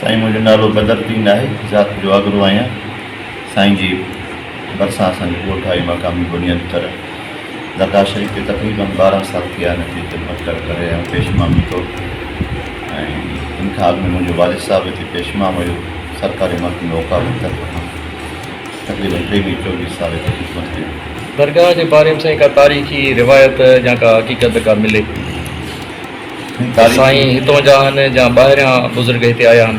سائين منهنجو نالو بدرالدين آهي ذات جو آگرو آهيان سائين جي ڀرسان اسان جو ڳوٺ آهي مقامي بنيادي طرح درگاهه شريف کي تقريبن ٻارهن سال ٿي آهن اتي خدمت ڪري ڪري رهيا آهيون پيش امام جي طور تي ۽ ان کان اڳ ۾ منهنجو والد صاحب هتي پيش امام هيو سرڪاري محڪمي اوقاف جي طرف کان سڄي رتبي ۾ چوويهه سال هتي خدمت ڪئي. درگاهه جي باري ۾ سائين ڪا تاريخي روايت يا ڪا حقيقت ڪا ملي ته سائين هتون جا هن يا ٻاهريان بزرگ هتي آيا هن؟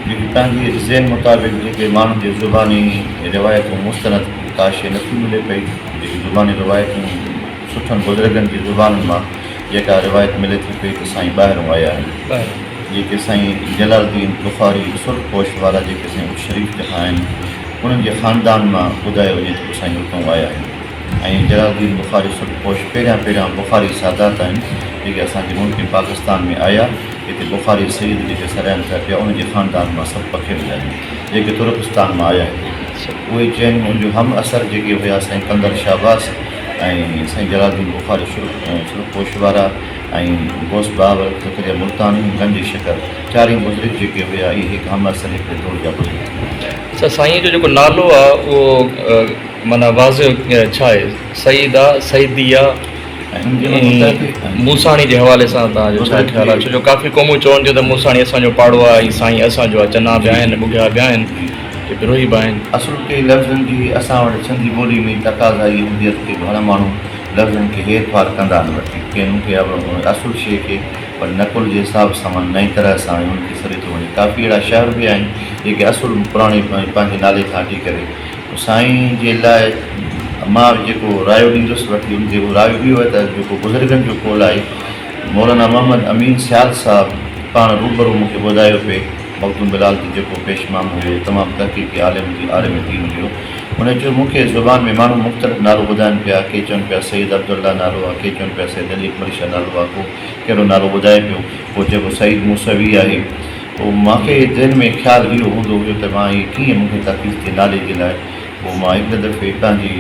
جيڪي هتان جي ذهن مطابق جيڪي ماڻهن جي زباني روايتون مستند ڪا شيء نٿي ملي پئي جيڪي زباني روايتون سٺن بزرگن جي زبانن مان جيڪا روايت ملي ٿي پئي ته سائين ٻاهرون آيا آهن جيڪي سائين جلال الدين بخاري سرخ پوش وارا جيڪي سائين اچ شريف جا آهن انهن جي خاندان مان ٻڌايو وڃي ٿو ته سائين اتئون آيا آهن ۽ جلال الدين بخاري سرخ پوش پهريان پهريان بخاري سادات آهن جيڪي اسان جي ملڪ پاڪستان ۾ آيا هتي بخاري سيد جيڪي سڏائن ٿا پيا انهن جي خاندان مان سڀ پکيڙ ويا آهن جيڪي ترڪستان مان آيا هتي اهي چئن ان جو هم عصر جيڪي هيا سائين قندر شهباز ۽ سائين جلال الدين بخاري شرڪوش وارا ۽ غوث بهاول زڪريا ملتاني ۽ گنج شڪر چارئي بزرگ جيڪي هيا اهي هڪ حمله سريء جي دور جا بزرگ هيا. سائينء جو جيڪو نالو آ اهو معنيٰ واضح ڇا آهي؟ سيد آ، سيدي آ ۽ موساڻي جي حوالي سان توهان جو ڇا خيال آ؟ ڇو جو ڪافي قومون چون ٿيون ته موساڻي اسان جو پاڙو آ ۽ سائين اسان جو آ، چنا به آهن ٻگهيا به آهن. کي بروهي به آهن. اصل ڪي لفظن جي اسان وٽ سنڌي ٻولي ۾ ئي تقاضائي اهميت کي گهڻ ماڻهو لفظن کي هير ڦار ڪندا آهن وٺي ڪين ان کي اهڙو گهڻو اصل شيء کي وري نقل جي حساب سان من نئين طرح سان ۽ ان کي سريتو وڻي ڪافي اهڙا شهر به آهن جيڪي اصل پراڻي ۽ پنهنجي نالي کان هٽي ڪري سائين جي لاء مان جيڪو رايو ڏيندس وٺي ان تي اهو رايو اهو آهي ته جيڪو بزرگن جو قول آهي مولانا محمد امين سيال صاحب پاڻ روبرو مون کي ٻڌايو پئي مخدوم بلال جي جيڪو پيش مام هيو هي تمام تحقيقي عالم جي عالم دين هيو هن چيو مون کي زبان ۾ ماڻهو مختلف نالو ٻڌائن پيا ڪي چون پيا سيد عبدالله نالو آ ڪي چون پيا سيد علي اڪبر شاھ نالو آ ڪو ڪهڙو نالو ٻڌائي پيو ڪو چئي پيو سعيد موسوي آهي پو مان کي ذهن ۾ خيال اهو هوندو هيو ته مان هي ڪيئن مون کي تحقيق ٿئي نالي جي لاء پو مان هڪڙي دفعي هتان جي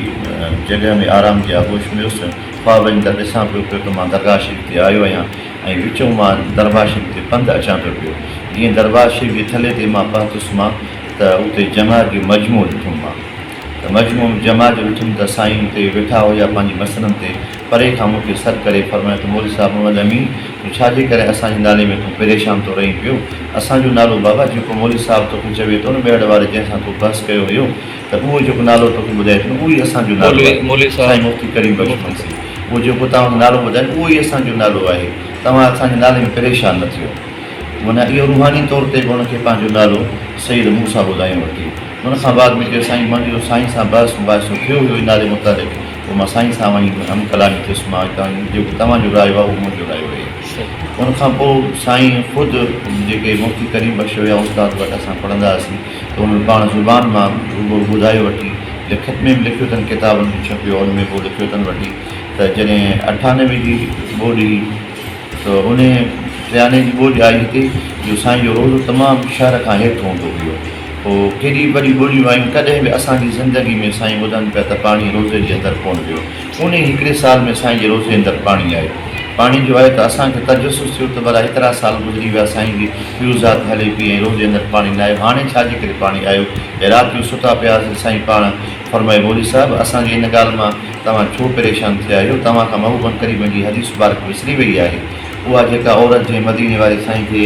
جڳهه ۾ آرام جي آغوش ۾ هيس خواب ۾ ته ڏسان پيو پيو ته مان درگاھ شريف تي آيو آهيان ۽ وچون مان دربار شريف تي پنڌ اچان پيو پيو. جيئن دربار شريف جي تلي تي مان پهتس مان ته اتي جمعه جو مجموعو ڏٺم مان ته مجموعي ۾ جمعه جو ڏٺم ته سائين اتي ويٺا هيا پنهنجي مسئلن تي پري کان مون کي سڏ ڪري فرمايو ته مولوي صاحب محمد امين تون ڇا جي ڪري اسان جي نالي ۾ تون پريشان ٿو رهين پيو اسان جو نالو بابا جيڪو مولوي صاحب توکي چوي ٿو نه ميهڙ واري جنهن سان تو بحث ڪيو هيو ته اهو جيڪو نالو توکي ٻڌائي ٿو نه اهو ئي اسان جو نالو آهي مولوي صاحب سائين مفتي ڪريم بخش منسي اهو جيڪو توهان کي نالو ٻڌائين اهو ئي اسان جو نالو آهي توهان اسان جي نالي ۾ پريشان نه ٿيو معنيٰ اهو روحاني طور تي به ان کي پنهنجو نالو سيد موسيٰ ٻڌايو ورتي ان کان بعد ۾ چيو سائين منهنجو جو سائين سان بحث مباحثو ٿيو هيو هن نالي متعلق پوء مان سائين سان وڃي هم ڪلامي ٿيس مان چيو جيڪو توهان جو رايو آهي اهو منهنجو رايو آهي ان کان پوء سائين خود جيڪي مفتي ڪريم بخش هيا استاد وٽ اسان پڙهندا هئاسين تو به پاڻ زبان مان روبرو ٻڌايو وٺي لکت ۾ به لکيو اٿن ڪتابن ۾ ڇپيو ان ۾ به لکيو اٿن وٺي ته جڏهن اٺانوي جي ٻوڏ هئي ته انهي ٽيانوي جي ٻوڏ آئي هتي جو سائين جو روضو تمام شهر کان هيٺ هوندو هيو پوء ڪيڏي وڏي ٻوڏيون آيون ڪڏهن به اسان جي زندگي ۾ سائين ٻڌن پيا ته پاڻي روضي جي اندر ڪونه ويو انهي هڪڙي سال ۾ سائين جي روزي اندر پاڻي آيو. پاڻي جو آيو ته اسان کي تجسس ٿيو ته ڀلا هيترا سال گذري ويا سائين جي پيو ذات هلي پئي ۽ روزي اندر پاڻي نه آيو هاڻي ڇا جي ڪري پاڻي آيو ۽ رات جو ستا پيا هئاسين سائين پاڻ فرمائي مولوي صاحب اسان جي ان ڳالهه مان توهان ڇو پريشان ٿيا آهيو توهان کان محبوبن قريبن جي حديث مبارڪ وسري وئي آهي اها جيڪا عورت جنهن مديني واري سائين کي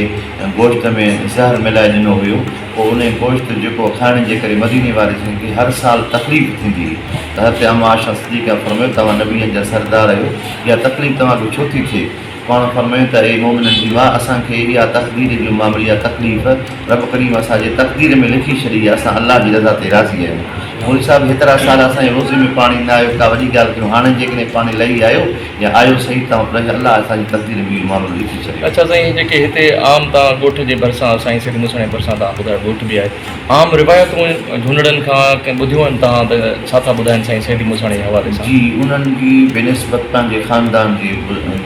گوشت ۾ زهر ملائي ڏنو هيو پوء انهيء گوشت جيڪو کائڻ جي ڪري مديني وارثن کي هر سال تڪليف ٿيندي هئي ته حضرت عمّ عائشه صديقه فرمايو توهان نبين جا سردار آهيو اها تڪليف توهان کي ڇو ٿي ٿئي؟ پاڻ فرمايو ته اي مؤمنن جي ماء اسان کي اها تقدير جو معامل يا تڪليف رب ڪريم اسان جي تقدير ۾ لکي ڇڏي آهي اسان الله جي رضا تي راضي آهيون مولوي صاحب هيترا سال اسان جي روزي ۾ پاڻي نه آيو ڪا وڏي ڳالهه ڪيون هاڻي جيڪڏهن پاڻي لهي آيو يا آيو سهي تان پر اڄ الله اسان جي تقدير ۾ اهو معاملو لکي ڇڏيو. اڇا سائين جيڪي هتي عام تان ڳوٺ جي ڀرسان سائين سيد موسڻيء جي ڀرسان تان ٻڌايو ڳوٺ به آهي عام روايتون جهونڙن کان ڪنهن ٻڌيون آهن تان ته ڇا ٿا ٻڌائن سائين سيد موسڻيء جي حوالي سان. جي انهن جي بنسبت تان جي خاندان جي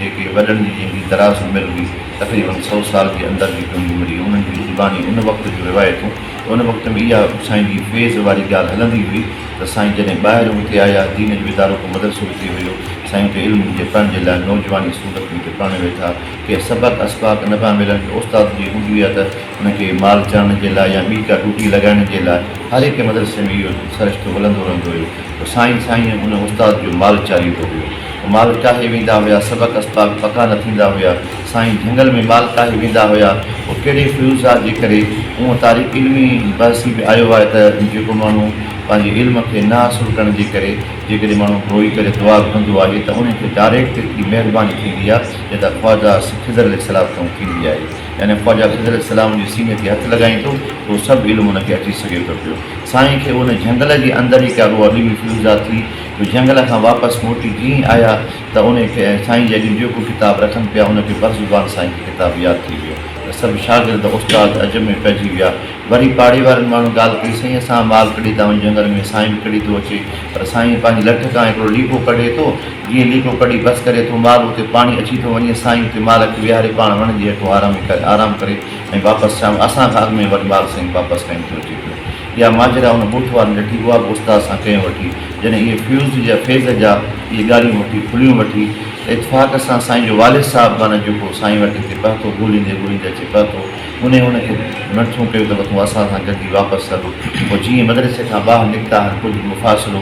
جيڪي وڏن جي جنهن جي دراز عمر هئي تقريبن سؤ سال جي اندر جي ڪنهن جي عمر هئي انهن جي زباني ان وقت جون روايتون ان وقت ۾ اها سائين جي فيض واري ڳالهه هلندي هئي ته سائين جڏهن ٻاهر اتي آيا، دين جو ادارو ڪو مدرسو اتي هيو، سائين اتي علم جي پڙهڻ جي لاء نوجوان اسٽوڊنٽ کي اتي پڙهڻ ويٺا، ڪي سبق اسباق نه پيا ملن، ڪي استاد جي هوندي هئي ته ان کي مال چرڻ جي لاء يا ٻي ڪا ڊوٽي لڳائڻ جي لاء، هر هڪ مدرسي ۾ اهو سرشتو هلندو رهندو هيو ته سائين سائين ان استاد جو مال چاريندو هيو، مال ٽاهي ويندا هيا، سبق اسباق پڪا نه ٿيندا هيا، سائين جهنگل ۾ مال ڪاهي ويندا هيا او ڪهڙي فيوضات جي ڪري اونهه تاريخ علمي بحثي به آيو آهي ته جيڪو ماڻهو پنهنجي علم کي نه حاصل ڪرڻ جي ڪري جيڪڏهن ماڻهو روئي ڪري دعا گهرندو آهي ته انهي کي ڊاريڪٽ ايتري مهرباني ٿيندي آهي جيترا خواجه خضر عليه السلام کان ٿيندي آهي يعني خواجه خضر عليه السلام جي سيني تي هٿ لڳائيندو ته اهو سڀ علم ان کي اچي سگهي ٿو پيو سائين کي ان جهنگل جي اندر ئي ڪا روعه ڏيوي فيوضات ٿي جو جهنگل کان واپس موٽي جيئن ئي آيا ته انهي کي ۽ سائين جي اڳي جيڪو ڪتاب رکن پيا ان کي بر زبان سائين کي ڪتاب ياد ٿي ويو ته سڀ شاگرد استاد عجب ۾ پئجي ويا وري پاڙي وارن ماڻهن ڳالهه ڪئي سائين اسان مال ڪڙي ٿا وڃون جهنگل ۾ سائين به ڪڙي ٿو اچي پر سائين پنهنجي لٺ کان هڪڙو ليڪو ڪڍي ٿو جيئن ليڪو ڪڍي بس ڪري ٿو مال اتي پاڻي اچي ٿو وڃي سائين اتي مال کي ويهاري پاڻ وڻ جي هيٺون آرام ڪري ۽ واپس شام اسان کان اڳ ۾ وري مال سائين واپس کڻي ٿو اچي پيو اها ماجرا ان بوٿ وارن ڏٺي اها به استاد سان ڪيون وٺي جڏهن اهي فيوز جا فيض جا اهي ڳالهيون مونکي کليون وٺي اتفاق سان سائين جو والد صاحب معنيٰ جيڪو سائين وٽ هتي پهتو ڳوليندي ڳوليندي اچي پهتو انهي هن کي مينٿون ڪيو ته وٿون اسان سان گڏجي واپس هل پوء جيئن مدرسي کان ٻاهر نڪتا هن ڪجهه مفاصلو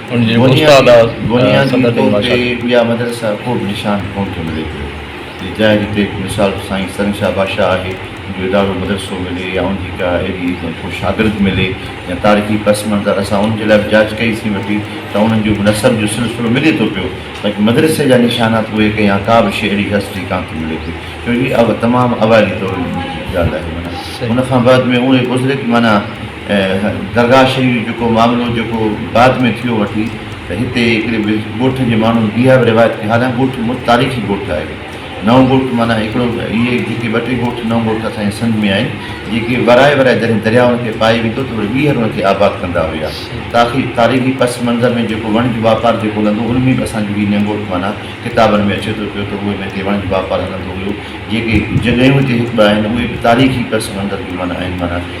بنيادي طور تي اها مدرسه ڪوبه نشان ڪونه ٿو ملي پيو جي جاء جي ڪي به مثال سائين سرن شاهه بادشاهه آهي ان جو ادارو مدرسو ملي يا ان جي ڪا اهڙي ڪو شاگرد ملي يا تاريخي پس منظر اسان ان جي لاء به جاچ ڪئي سين وٺي ته انهن جو به نسب جو سلسلو ملي ٿو پيو باقي مدرسي جا نشانات اهي ڪي يا ڪا به شي اهڙي هسٽري ڪانه ٿي ملي پئي ڇو جي تمام اوائلي دور جي ڳالهه آهي معنيٰ ان کان بعد ۾ اهي گذري ٿي معنيٰ درگاهه شريف جيڪو معاملو جيڪو بعد ۾ ٿيو وٺي ته هتي هڪڙي ڳوٺ جي ماڻهن اها به روايت ڪئي هالا ڳوٺ مون تاريخي ڳوٺ آهي نئون ڳوٺ معنيٰ هڪڙو اهي جيڪي ٻه ٽي ڳوٺ نئون ڳوٺ اسان جي سنڌ ۾ آهن جيڪي ورائي ورائي جڏهن درياء ان کي پائي ويندو ته وري ٻيهر ان کي آباد ڪندا هيا تاخي تاريخي پس منظر ۾ جيڪو وڻج واپار جيڪو هلندو ان ۾ به اسان جو هي نئونڳوٺ معنيٰ ڪتابن ۾ اچي ٿو پيو ته اهي هتي وڻج واپار هلندو هيو جيڪي جڳهيون هتي هڪ ٻه آهن اهي به تاريخي پس منظر جون معنيٰ آهن معنيٰ